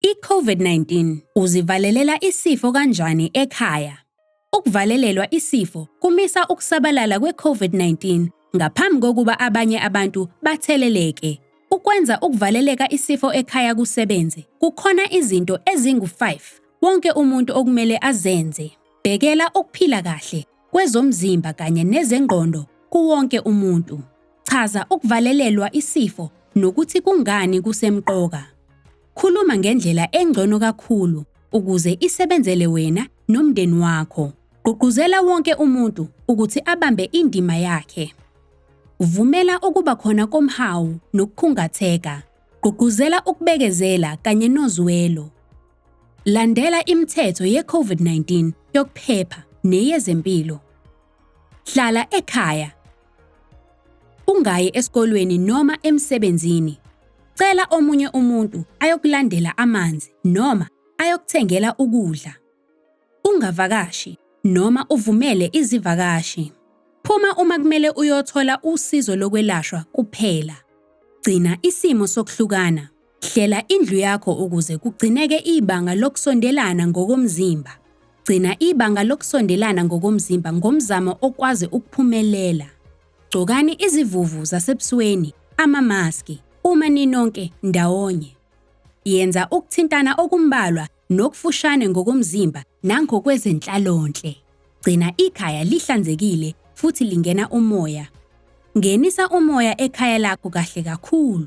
I-COVID-19 uzivalelela isifo kanjani ekhaya? Ukuvalelelwa isifo kumisa ukusabalala kwe-COVID-19 ngaphambi kokuba abanye abantu batheleleke. Ukwenza ukuvaleleka isifo ekhaya kusebenze, kukhona izinto ezingu-5 wonke umuntu okumele azenze. Bhekela ukuphila kahle kwezomzimba kanye nezengqondo kuwonke umuntu. Chaza ukuvalelelwa isifo nokuthi kungani kusemqoka. Khuluma ngendlela engcono kakhulu ukuze isebenzele wena nomndeni wakho. Gqugquzela wonke umuntu ukuthi abambe indima yakhe. Vumela ukuba khona komhawu nokukhungatheka. Gqugquzela ukubekezela kanye nozwelo. Landela imithetho ye-COVID-19 yokuphepha neyezempilo. Hlala ekhaya. Ungayi esikolweni noma emsebenzini. Cela omunye umuntu ayokulandela amanzi noma ayokuthengela ukudla. Ungavakashi noma uvumele izivakashi. Phuma uma kumele uyothola usizo lokwelashwa kuphela. Gcina isimo sokuhlukana. Hlela indlu yakho ukuze kugcineke ibanga lokusondelana ngokomzimba. Gcina ibanga lokusondelana ngokomzimba ngomzamo okwazi ukuphumelela. Gcokani izivuvu zasebusweni, amamaski, uma ninonke ndawonye. Yenza ukuthintana okumbalwa nokufushane ngokomzimba nangokwezenhlalonhle. Gcina ikhaya lihlanzekile futhi lingena umoya. Ngenisa umoya ekhaya lakho kahle kakhulu.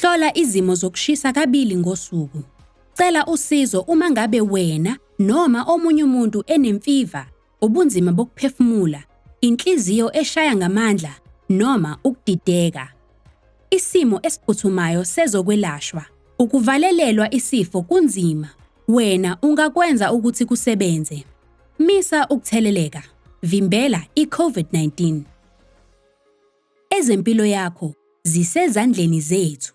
Hlola izimo zokushisa kabili ngosuku. Cela usizo uma ngabe wena noma omunye umuntu enemfiva, ubunzima bokuphefumula, inhliziyo eshaya ngamandla noma ukudideka. Isimo esiphuthumayo sezokwelashwa. Ukuvalelelwa isifo kunzima. Wena ungakwenza ukuthi kusebenze. Misa ukutheleleka. Vimbela i-COVID-19. Ezempilo yakho zisezandleni zethu.